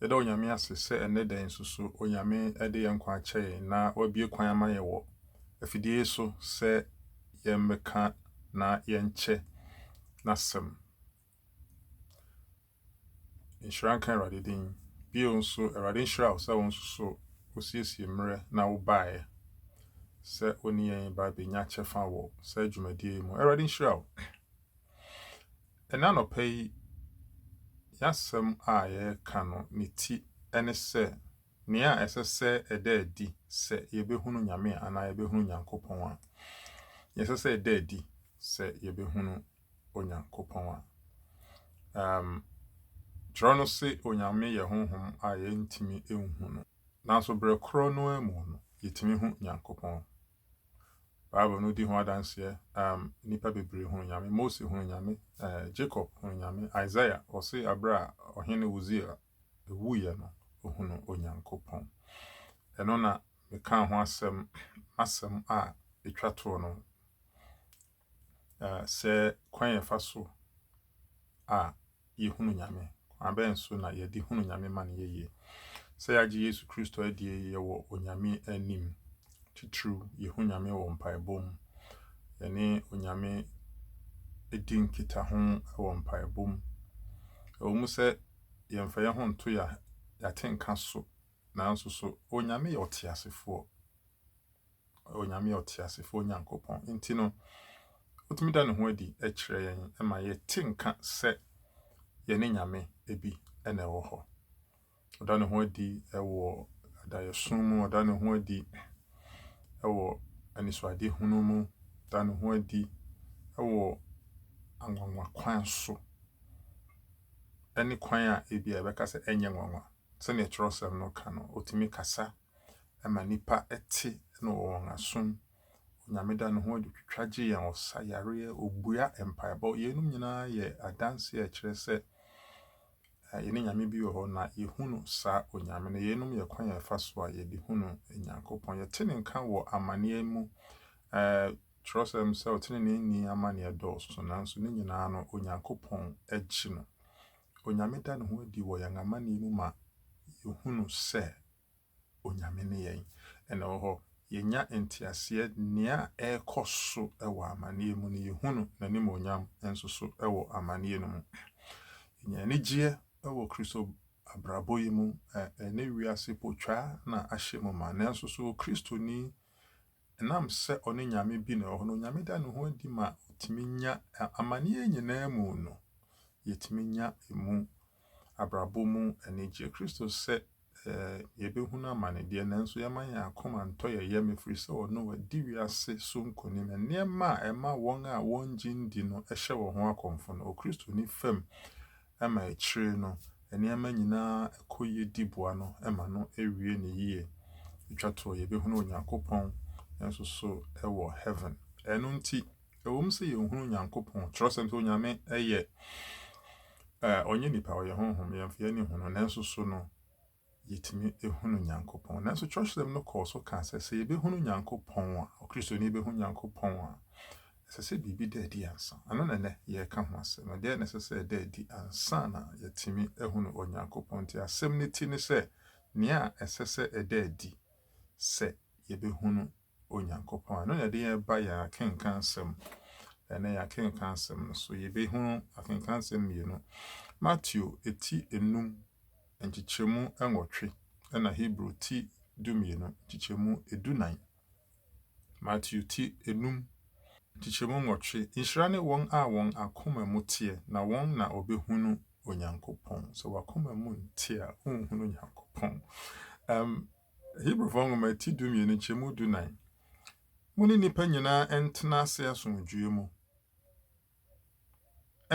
Yɛda Onyame ase sɛ ɛnnɛ da yi nso so Onyame de yɛn nkwa akyɛ yɛn na wabue kwan ama yɛn wɔ afidie yi so sɛ yɛmmɛka na yɛnkyɛ n'asɛm. Nhyira nka Awurade din. Bio nso, Awurade nhyira wo sɛ wo nso so wosiesie mmerɛ na wobaeɛ sɛ wo ne yɛn ba bɛnya kyɛfa wɔ saa dwumadie yi mu. Awurade nhyira wo. Ɛnnɛ anɔpa yi, yɛn asɛm a yɛreka no, ne ti ne sɛ, Nea Ɛsɛ sɛ Ɛda Adi Sɛ Yebehunu Nyame Anaa Yebehunu Onyankopɔn A. Nea ɛsɛ sɛ ɛda adi sɛ yebehunu Onyankopɔn a. Um, kyerɛw no se Onyame yɛ honhom a yɛntumi nhu no. Nanso berɛ korɔ no ara mu no, yɛtumi hu Nyankopɔn. Bible no di ho adanseɛ um, nnipa bebree hunu Nyame. Mose hunu Nyame, uh, Jacob hunu Nyame, Isaiah ɔse aberɛ a ɔhene Uzia wuiɛ no, ɔhunu Onyankopɔn. Ɛno na mekaa ho asɛm, asɛm a ɛtwa toɔ no. Na sɛ kwan a yɛfa so a yɛhunu Nyame, kwan bɛn so na yɛde hunu Nyame ma no yɛ yie? Sɛ yɛagye Yesu Kristo adie yɛwɔ Onyame anim, titiriw yɛhu Nyame wɔ mpaebɔ mu, yɛne Onyame di nkitaho wɔ mpaebɔ mu. Ɛwɔ mu sɛ yɛmfa yɛn ho nto yɛate nka so, nanso so Onyame yɛ ɔteasefoɔ? ɔyɛ Onyame ɔteasefoɔ Nyankopɔn. Enti no, ɔtumi da ne ho adi kyerɛ yɛn ma yɛte nka sɛ yɛne Nyame bi na ɛwɔ hɔ. Ɔda ne ho adi wɔ adayɛso mu, ɔda ne ho adi wɔ anisoadehunu mu, ɔda ne ho adi wɔ anwanwa kwan so, ne kwan a ebi a yɛbɛka sɛ ɛnyɛ nwanwa. Sɛnea twerɛsɛm no ka no, ɔtumi kasa ma nnipa te no wɔ wɔn asom. Onyame da ne ho adi twitwa gye yɛn, ɔsa yareɛ, ɔbua mpaebɔ. Yeinom nyinaa yɛ adanseɛ a ɛkyerɛ sɛ eh, yɛne Nyame bi wɔ hɔ na yɛhunu saa Onyame no. Yeinom yɛ kwan a ɛfa so a yɛde hunu Nyankopɔn. Yɛte ne nka wɔ amanneɛ mu. Eh, kyerɛsɛm sɛ ɔteneneeni amanneɛ dɔɔso, nanso ne nyinaa no Onyankopɔn gye no. Onyame da ne ho adi wɔ yɛn amanneɛ mu ma yɛhunu sɛ Onyame ne yɛn. Ɛna ɛwɔ hɔ, yɛnya nteaseɛ nea ɛrekɔ so wɔ amaneɛ mu no, yɛhunu N'animuonyam nso so wɔ amaneɛ no mu. Yɛnya anigyeɛ wɔ Kristo abrabɔ yi mu, ɛnɛ wiase potwaa na ahyɛ mu ma, nanso so Kristoni Ɛnam sɛ ɔne Nyame bi na ɔwɔ hɔ no, Onyame da ne ho adi ma otumi nya amanneɛ nyinaa mu no, yɛtumi nya emu abrabɔ mu anigyeɛ. Kristo sɛ yɛbɛhunu amane deɛ, nanso yɛma yɛn akoma ntɔ yɛn yam, ɛfiri sɛ ɔno wadi wiase so nkonim. Nneɛma a ɛma wɔn a wɔngye ndi no hyɛ wɔn ho akɔmfo no, Okristoni fam ma akyire no nneɛma nyinaa kɔ yie di boa no ma no wie no yie. Ɛtwa toɔ, yɛbɛhunu Onyankopɔn nso so wɔ heaven. Ɛno nti, ɛwom sɛ yɛnhunu Onyankopɔn, twerɛsɛm sɛ Onyame yɛ, ɔnyɛ nipa, ɔyɛ honhom, yɛmfa yɛn ani hunu, nanso so no, yɛtumi hunu Nyankopɔn. Nanso kyerɛwhyɛm no kɔɔ so kaa sɛ, sɛ yɛbɛhunu Nyankopɔn a, Kristoni bɛhu Nyankopɔn a, ɛsɛ sɛ biribi da adi ansa. Ɛno na ɛnnɛ yɛreka ho asɛm no. Dɛn na ɛsɛ sɛ ɛda adi ansa na yɛatumi ahunu Onyankopɔn? Nti asɛm no ti ne sɛ, nea ɛsɛ sɛ ɛda adi sɛ yɛbɛhunu Onyankopɔn a. Ɛno na ɛde yɛn ba yɛn akenkansɛm. Ɛnɛ yɛn akenkansɛm no so yɛbɛhunu akenkansɛm mmienu. Mateo ti enum nkyekyɛmu nwɔtwe ɛna Hebrew ti dumienu nkyekyɛmu edunan. Mateo ti enum nkyekyɛmu nwɔtwe. Nhyira ne wɔn a wɔn akoma mu teɛ, na wɔn na wɔbɛhunu Onyankopɔn. Sɛ w'akoma mu nteɛ a, wonhunu Onyankopɔn. Um, Hebrifo Nwoma ti dumien nkyɛmu dunan. Mo ne nnipa nyinaa ntena ase asomdwoe mu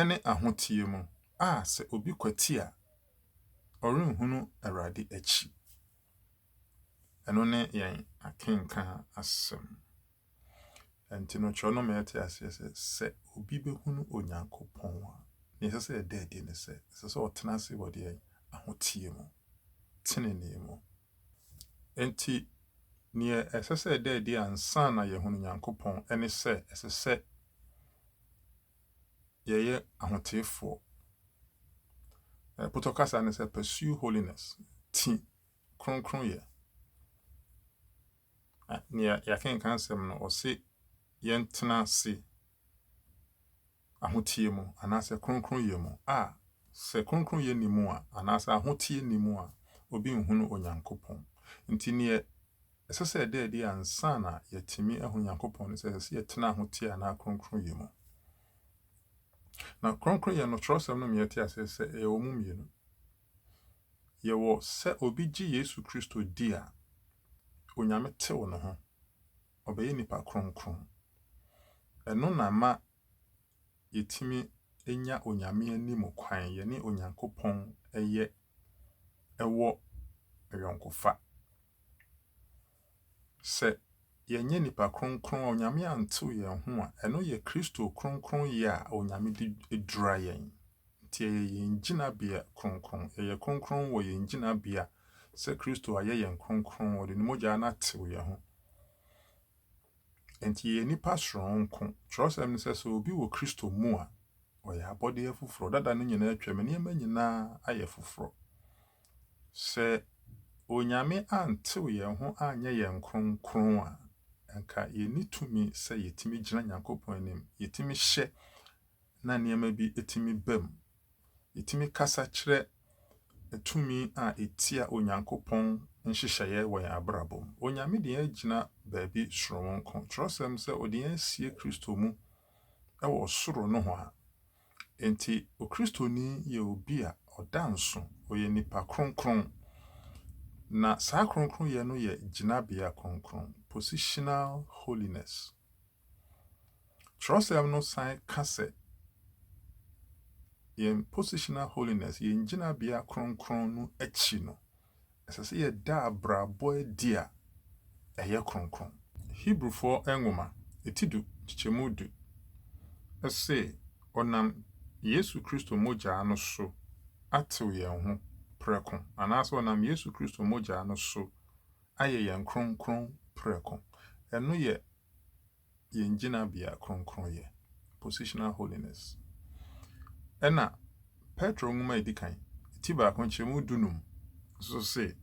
ne ahoteɛ mu, a sɛ obi kwati a, ɔrenhunu Awurade akyi. Ɛno ne yɛn akenkan asɛm. Ɛnti no kyerɛw no ma yɛte aseɛ sɛ, sɛ obi bɛhunu Onyankopɔn a, deɛ ɛsɛ sɛ ɛda adi ne sɛ, ɛsɛ sɛ ɔtena ase wɔ deɛ ahoteɛ mu, tenenee mu. Ɛnti deɛ ɛsɛ sɛ ɛda adi ansa na yɛahunu Nyankopɔn ne sɛ, ɛsɛ sɛ yɛyɛ ahoteefoɔ. Ɛpotɔ kasa ne sɛ pursue holiness, ti kronkronyɛ. Na nea yɛakenkan asɛm no, ɔse yɛntena ase ahoteɛ mu anaasɛ kronkronyɛ mu a sɛ kronkronyɛ nni mu a anaasɛ ahoteɛ nni mu a obi nhunu Onyankopɔn. Nti neɛ ɛsɛ sɛ ɛda adi ansa na yɛatumi ahunu Onyankopɔn no sɛ ɛsɛ sɛ yɛtena ahoteɛ anaa kronkronyɛ mu. Na kronkronyɛ no, twerɛsɛm no ma yɛte aseɛ sɛ ɛyɛ wɔn mu mmienu. Yɛwɔ sɛ obi gye Yesu Kristo di a, Onyame tew ne ho, ɔbɛyɛ nipa kronkron. Ɛno na ɛma yɛtumi nya Onyame anim kwan, yɛne Onyankopɔn yɛ wɔ ayɔnkofa. Sɛ yɛnyɛ nnipa kronkron a Onyame antew yɛn ho a, ɛno yɛ Kristo kronkronyɛ a Onyame de adura yɛn. Nti ɛyɛ yɛn gyinabea kronkron. Yɛyɛ kronkron wɔ yɛn gyinabea sɛ Kristo ayɛ yɛn kronkron, ɔde ne mogya no atew yɛn ho. Nti yɛyɛ nnipa soronko. Kyerɛwsɛm no sɛ, sɛ obi wɔ Kristo mu a, ɔyɛ abɔdeɛ foforɔ. Dada no nyinaa atwam, nneɛma nyinaa ayɛ foforɔ. Sɛ Onyame antew yɛn ho anyɛ yɛn kronkron a, anka yenni tumi sɛ yetumi gyina Nyankopɔn anim, yetumi hyɛ na nneɛma bi tumi bam. Yetumi kasa kyerɛ tumi a etia Onyankopɔn nhyehyɛeɛ wɔ yɛn abrabɔ mu. Onyame de yɛn agyina baabi soronko. Kyerɛwsɛm sɛ ɔde yɛn asie Kristo mu wɔ ɔsoro nohoa. Enti, Okristoni yɛ obi a ɔda nso, ɔyɛ nipa kronkron, na saa kronkronyɛ no yɛ gyinabea kronkron, positional holiness. Kyerɛwsɛm no san ka sɛ yɛn positional holiness, yɛn gyinabea kronkron no akyi no, Ɛsɛ sɛ yɛda abrabɔ adi a ɛyɛ kronkron. Hebrifo nwoma ti du, nkyekyɛmu du, se, Ɔnam Yesu Kristo mogyaa no so atew yɛn ho prɛko, anaasɛ ɔnam Yesu Kristo mogyaa no so ayɛ yɛn kronkron prɛko. Ɛno yɛ. yɛn gyinabea kronkronyɛ, positional holiness. Ɛnna Petro nwoma a edi kan, ti baako nkyɛmu du num nso se,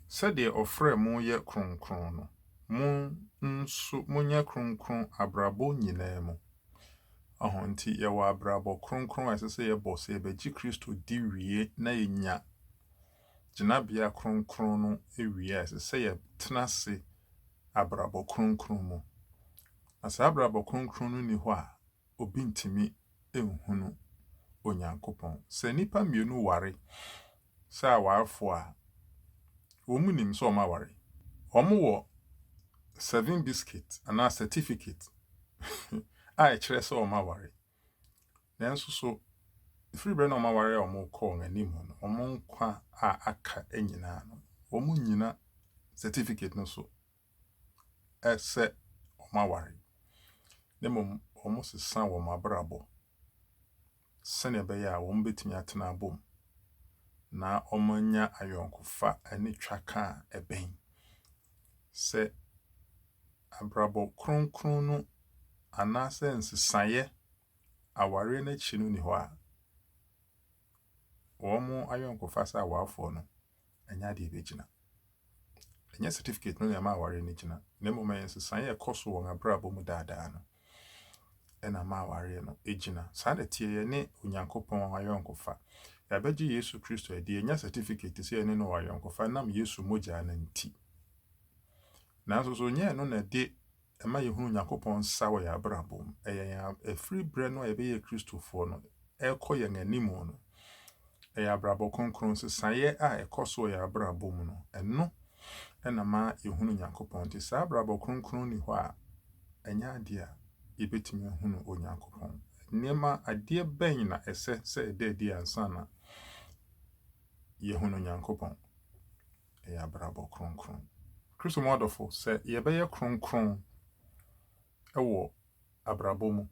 Sɛdeɛ ɔfrɛɛ mo yɛ kronkron no, mo nso monyɛ kronkron abrabɔ nyinaa mu. Ɔho nti, yɛwɔ abrabɔ kronkron a ɛsɛ sɛ yɛbɔ sɛ yɛbɛgye Kristo di wie na yɛanya gyinabea kronkron no awie a, ɛsɛ sɛ yɛtena ase abrabɔ kronkron mu. Na sɛ abrabɔ kronkron no nni hɔ a, obi ntumi nhunu Onyankopɔn. Sɛ nnipa mmienu ware sɛ awarefo a, wɔnim sɛ wɔaware. Wɔwɔ seven biscuit anaa certificate a ɛkyerɛ sɛ wɔaware. Nanso so ɛfiri berɛ na wɔn awareɛ a wɔrekɔ wɔn anim no, wɔn nkwa a aka nyinaa no, wɔnnyina certificate no so sɛ wɔn aware, na mmom wɔsesa wɔn abrabɔ sɛdeɛ ɛbɛyɛ a wɔbɛtumi atena abom na wɔanya ayɔnkofa ne twaka a ɛbɛn sɛ Abrabɔ kronkron no anaasɛ nsesaeɛ awareɛ no akyi no nni hɔ a wɔn ayɔnkofa sɛ awarefoɔ no nyɛ adeɛ ɛbɛgyina. Ɛnyɛ certificate no na ɛma awareɛ no gyina, na mmom ɛyɛ nsesaeɛ a ɛkɔ so wɔn abrabɔ mu daadaa no. na ama awareɛ no agyina. Saa na ɛteɛ, yɛne Onyankopɔn wɔ ayɔnkofa. Yɛabɛgye Yesu Kristo adi, yɛanya sɛtifiketi sɛ yɛne no wɔ ayɔnkofa nam Yesu mogya no nti. Nanso so nyɛ ɛno na ɛde ɛma yɛhunu Onyankopɔn nsa wɔ yɛn abrabɔ mu? Ɛyɛ yɛn ɛfiri berɛ no a yɛbɛyɛ Kristofoɔ no, ɛrekɔ yɛn anim no, ɛyɛ abrabɔ kronkron. Nsesaeɛ a ɛkɔ so wɔ yɛn abrabɔ mu no, ɛno na ma yɛhunu Onyankopɔn. Nti saa abrabɔ kronkron nni hɔ a, ɛnyɛ adeɛ a yɛbɛtumi ahunu Onyankopɔn. Nneɛma, adeɛ bɛn na ɛsɛ sɛ ɛda adi ansa na yɛhunu Onyankopɔn? Ɛyɛ abrabɔ kronkron. Kristo mu adɔfo, sɛ yɛbɛyɛ kronkron wɔ abrabɔ mu,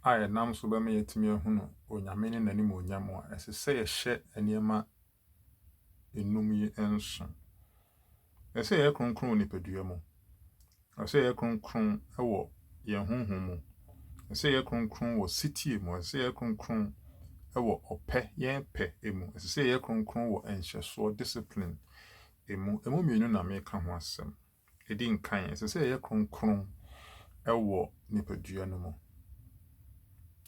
a ɛnam so bɛma yɛatumi ahunu Onyame ne n'animuonyam a, ɛsɛ sɛ yɛhyɛ nneɛma enum yi nson. Ɛsɛ sɛ yɛyɛ kronkron wɔ nipadua mu. Ɛsɛ sɛ yɛyɛ kronkron wɔ yɛn honhom mu. Ɛsɛ sɛ yɛyɛ kronkron wɔ setie mu. Ɛsɛ sɛ yɛyɛ kronkron wɔ ɔpɛ, yɛn pɛ mu. Ɛsɛ sɛ yɛyɛ kronkron wɔ nhyɛsoɔ, discipline, mu. Emu mmienu na meka ho asɛm. Di nkan, ɛsɛ sɛ yɛyɛ kronkron wɔ nipadua no mu.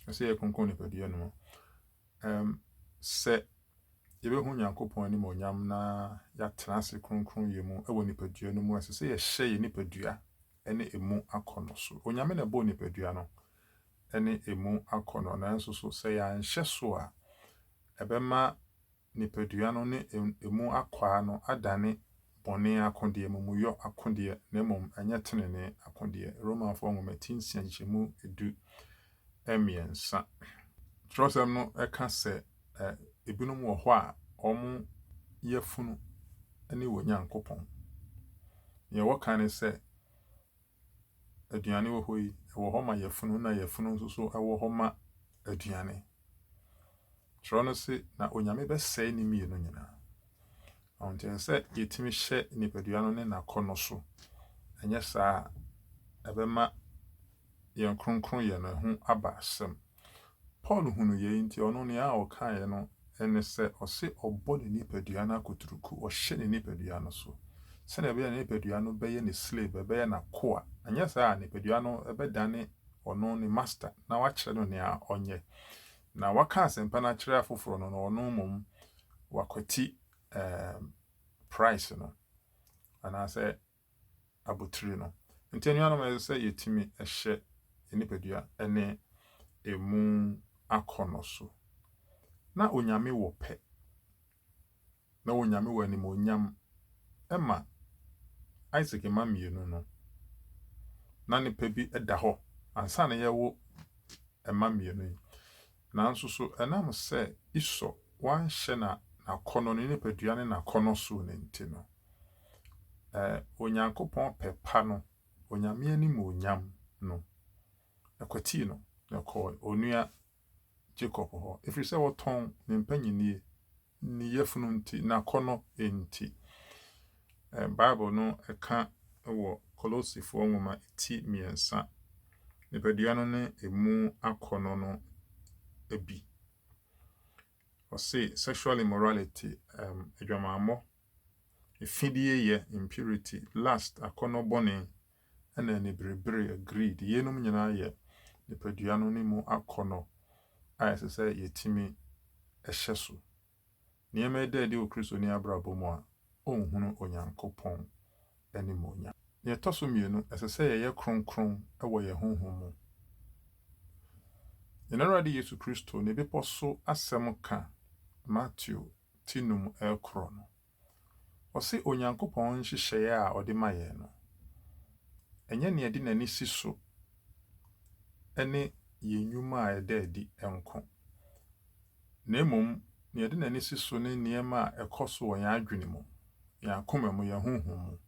Ɛsɛ sɛ yɛyɛ kronkron nipadua no mu. Um, sɛ yɛbɛhu Nyankopɔn animuonyam na yɛatena ase kronkron yɛ mu wɔ nipadua no mu, ɛsɛ sɛ yɛhyɛ yɛ nipadua ne emu akɔnɔ so. Onyame na ɛbɔɔ nipadua no ne emu akɔnɔ, nanso so sɛ yɛanhyɛ so a, ɛbɛma nipadua no ne emu akwaa no adane bɔne akodeɛ, amumuyɔ akodeɛ, na mmom ɛnyɛ tenenee akodeɛ. Romafoɔ nwoma ti nsia nkyekyɛmu du mmiɛnsa. Twerɛsɛm no ka sɛ ebinom wɔ hɔ a wɔn yafunu ne wɔ Nyankopɔn. Deɛ wɔka ne sɛ aduane wɔ hɔ yi, ɛwɔ hɔ ma yafunu na yafunu nso so wɔ hɔ ma aduane. Twerɛ no se, na Onyame bɛsɛe ne mmienu nyinaa. Ɔho nti ɛsɛ sɛ yɛtumi hyɛ nipadua no ne n'akɔnnɔ so. Ɛnyɛ saa a, ɛbɛma yɛn kronkronyɛ no ho aba asɛm. Paul hunu yei nti ɔno nea ɔkaeɛ no ne sɛ ɔse ɔbɔ ne nipadua no akuturuku, ɔhyɛ ne nipadua no so, sɛdeɛ ɛbɛyɛ a ne nipadua no bɛyɛ ne slave, ɛbɛyɛ n'akoa, anyɛ saa a nipadua no bɛdane ɔno ne master na wakyerɛ no nea ɔnyɛ. Na waka asɛmpa no akyerɛ afoforɔ no na ɔno mmom wakwati ɛɛm price no anaasɛ abotiri no. Nti anuanom ɛsɛ sɛ yɛtumi hyɛ yɛn nipadua ne ɛmu akɔnnɔ so. Na Onyame wɔ pɛ. Na Onyame wɔ animuonyam ma Isaac mma mmienu no. Na ne pɛ bi da hɔ ansa na yɛwo mma mmienu yi. Nanso so ɛnam sɛ Esau wanhyɛ na n'akɔnnɔ, ne nipadua ne n'akɔnnɔ so no nti no, ɛ, Onyankopɔn pɛ pa no, Onyame animuonyam no, ɛkwatii no, na ɛkɔɔ onua Jacob hɔ, ɛfiri sɛ wɔtɔn ne mpanyinie. Ne yafunu nti, n'akɔnnɔ nti. Bible no ka wɔ Kolosifoɔ nwoma ti mmiɛnsa, nipadua no ne emu akɔnnɔ no bi. Ɔse, sexual immorality, um, adwamammɔ, afideyɛ, impurity, lust, akɔnnɔ bɔne, ɛna aniberebere, greed, yeinom nyinaa yɛ nipadua no ne mu akɔnnɔ a ɛsɛ sɛ yɛtumi hyɛ so. Nneɛma yi da adi wɔ Kristoni abrabɔ mu a, ɔnhunu Onyankopɔn animuonyam. Nea ɛtɔ so mmienu, ɛsɛ sɛ yɛyɛ kronkron wɔ yɛn honhom mu. Yɛn Awurade Yesu Kristo ne Bepɔ so Asɛm ka Mateo ti num rekorɔ no, Ɔse Onyankopɔn nhyehyɛeɛ a ɔde ma yɛn no, ɛnyɛ nea ɛde n'ani si so ne yɛn nnwuma a ɛda adi nko, na mmom nea ɛde n'ani si so ne nneɛma a ɛkɔ so wɔ yɛn adwene mu, yɛn akoma mu, yɛn honhom mu.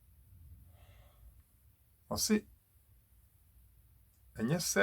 Ɔse ɛnyɛ sɛ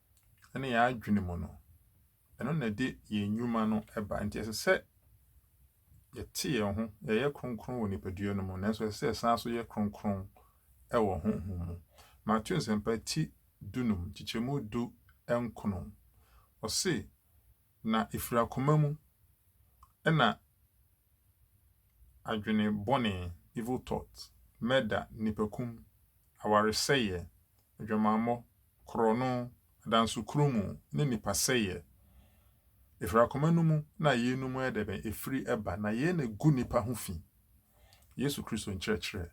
ne yɛn adwene mu no, ɛno na ɛde yɛn nnwuma no ba. Nti ɛsɛ sɛ yɛte yɛn ho, yɛyɛ kronkron wɔ nipadua no mu, nanso ɛsɛ sɛ yɛsan so yɛ kronkron wɔ honhom mu. Mateo Nsɛmpa ti dunum, nkyekyɛmu du nkron, ɔse, Na ɛfiri akoma mu na adwene bɔne, evil thought, mɛda, nnipakum, awaresɛeɛ, adwamammɔ, korɔno, adansokuro mu, ne nnipa sɛeɛ. Ɛfiri akoma no mu na yeinom yɛ dɛbɛn? Ɛfiri ba, na yei na ɛgu nnipa ho fi. Yesu Kristo nkyerɛkyerɛ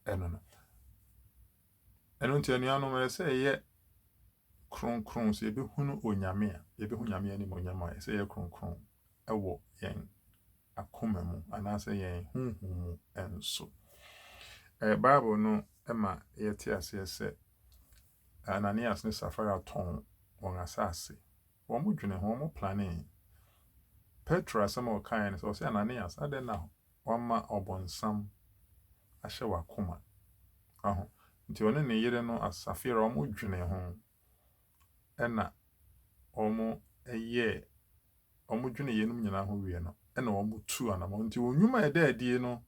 ɛno no. Ɛno nti anuanom, ɛsɛ sɛ yɛyɛ Kronkron, sɛ yɛbɛhunu Onyame a, yɛbɛhu Nyame animuonyam a, ɛsɛ yɛyɛ kronkron wɔ yɛn akoma mu anaasɛ yɛn honhom mu nso. Bible no ma yɛte aseɛ sɛ Ananias ne Safira tɔn wɔn asase Wɔdwenee ho, wɔplanee. Petro asɛm a ɔkaeɛ ne sɛ, ɔse, Ananias, adɛn na woama ɔbonsam ahyɛ w'akoma? Waho? Nti ɔne ne yere no, Safira, wɔdwenee ho, ɛna wɔyɛɛ, wɔdwenee yeinom nyinaa ho wie no, ɛna wɔtuu anamɔn. Nti wɔn nwuma a ɛda adie no,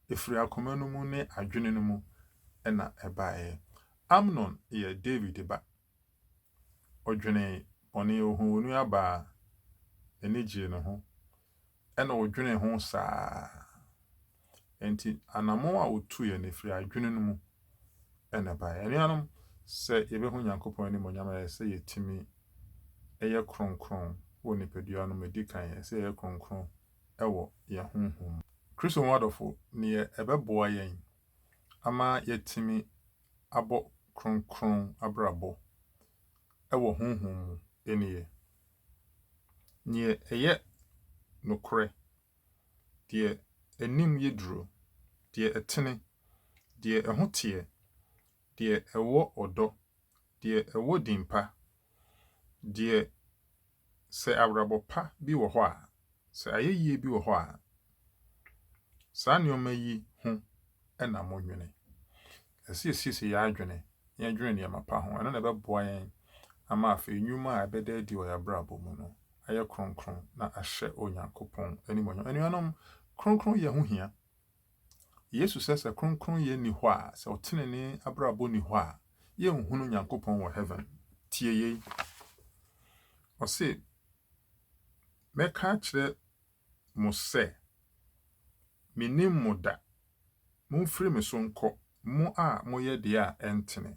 ɛfiri akoma no mu ne adwene no mu na ɛbaeɛ. Amnon yɛ David ba. Ɔdwenee bɔne, ohuu onuaba a n'ani gyee ne ho, ɛnna odwenee ho saa ara. Enti anammɔn a otuiɛ no, efiri adwene no mu na ɛbaeɛ. Anuanom, sɛ yɛbɛhu Onyankopɔn animuonyam a, ɛsɛ sɛ yɛtumi yɛ kronkron wɔ nipadua no mu. Ɛdi kan, ɛsɛ sɛ yɛyɛ kronkron wɔ yɛn honhom mu. Kristo mu adɔfo, nea ɛbɛboa yɛn ama yɛatumi abɔ kronkron abrabɔ wɔ honhom mu nneyɛe. Nea ɛyɛ nokorɛ, deɛ anim yɛ duro, deɛ ɛtene, deɛ ɛho teɛ, deɛ ɛwɔ ɔdɔ, deɛ ɛwɔ din pa, deɛ Sɛ abrabɔ pa bi wɔ hɔ a, sɛ ayɛyie bi wɔ hɔ a, saa nneɛma yi ho na monnwene. Ɛsɛ sɛ yɛsiesie yɛn adwene na yɛdwene nneɛma pa ho. Ɛno na ɛbɛboa yɛn ama afei nnwuma a ɛbɛda adi wɔ yɛn abrabɔ mu no ayɛ kronkron na ahyɛ Onyankopɔn animuonyam. Anuanom, kronkronyɛ ho hia. Yesu sɛ sɛ kronkronyɛ nni hɔ a, sɛ ɔtenenee abrabɔ nni hɔ a, yɛnhunu Nyankopɔn wɔ heaven. Tie yei. Ɔse, mɛka akyerɛ mo sɛ, mennim mo da. Momfiri me so nkɔ, mo a moyɛ deɛ a ɛntene.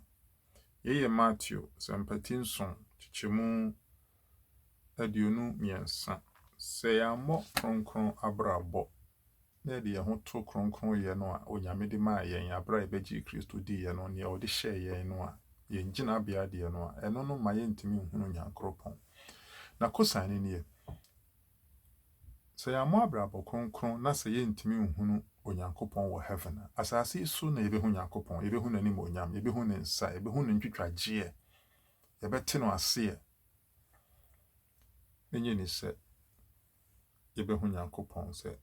Yei yɛ Mateo sɛmpati nson, kyekyɛmu aduonu mmiɛnsa. Sɛ yɛammɔ kronkron abrabɔ na yɛde yɛn ho to kronkronyɛ no a Onyame de maa yɛn aberɛ a yɛbɛgyee Kristo diiɛ no, deɛ ɔde hyɛɛ yɛn no a, yɛn gyinabea deɛ no a, ɛno no mma yɛntumi nhunu Nyankoropɔn. Na kosan no nie, sɛ yɛammɔ abrabɔ kronkron na sɛ yɛntumi nhunu Onyankopɔn wɔ Heaven a, asaase yi so na yɛbɛhu Nyankopɔn, yɛbɛhu N'animuonyam, yɛbɛhu Ne nsa, yɛbɛhu No ntwitwagyeɛ, yɛbɛte No aseɛ. Ɛnyɛ ni sɛ. yɛbɛhu Nyankopɔn sɛ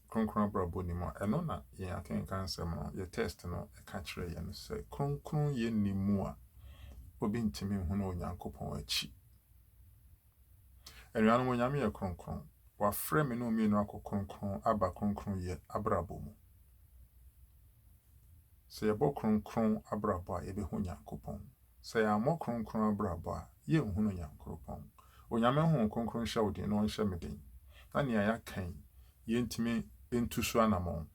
kronkron abrabɔ nni mu a, ɛno na yɛn akenkan nsɛm no, yɛn text no ka kyerɛ yɛn no. Sɛ kronkronyɛ nni mu a, obi ntumi nhunu Onyankopɔn akyi. Anuanom, Onyame yɛ kronkron. Wafrɛ me ne wo mmienu akɔ kronkron aba kronkronyɛ abrabɔ mu. Sɛ yɛbɔ kronkron abrabɔ a, yɛbɛhu Nyankopɔn. Sɛ yɛammɔ kronkron abrabɔ a, yɛrenhunu Nyankoropɔn. Onyame Honhom Kronkron nhyɛ wo den na ɔnhyɛ me den na nea yɛaka yi, yɛntumi ntu so anamɔn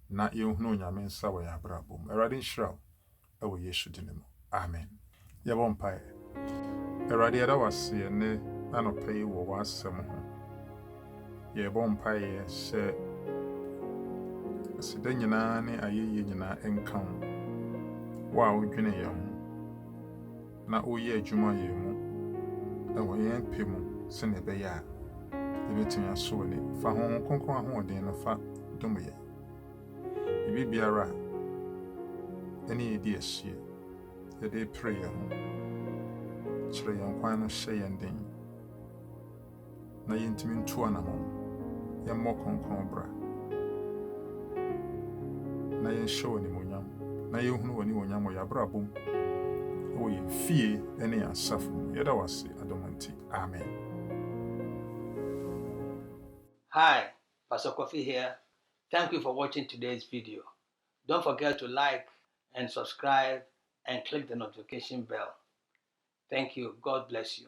na yɛnhunu Onyame nsa wɔ yɛn abrabɔ mu. Awurade nhyira wo wɔ Yesu dini mu. Amen. Yɛbɔ mpaeɛ. Awurade yɛda wo ase ɛnnɛ anɔpa yi wɔ w'asɛm ho. yɛrebɔ mpaeɛ sɛ aseda nyinaa ne ayɛyie nyinaa nka wo wo a wodwene yɛn ho na woyɛ adwuma yɛn mu ɛwɔ yɛn pɛ mu sɛnea ɛbɛyɛ a yɛbɛtumi aso ani fa ho ho kronkron ahoɔden no fa dom yɛn ebi biara a ɛne yɛdi asie yɛde pere yɛn ho kyerɛ yɛn kwan no hyɛ yɛn den na yɛntumi ntu anamɔn. Yɛmmɔ kronkron bra, na yɛnhyɛ wo animuonyam, na yɛnhunu w'animuonyam wɔ yɛn abrabɔ mu, wɔ yɛn fie ne yɛn asafo mu. Yɛda wo ase adom nti. Amen. Hi, Pastor Kofi here, thank you for watching today's video, don't forget to like and subscribe and click the notification bell, thank you, God bless you.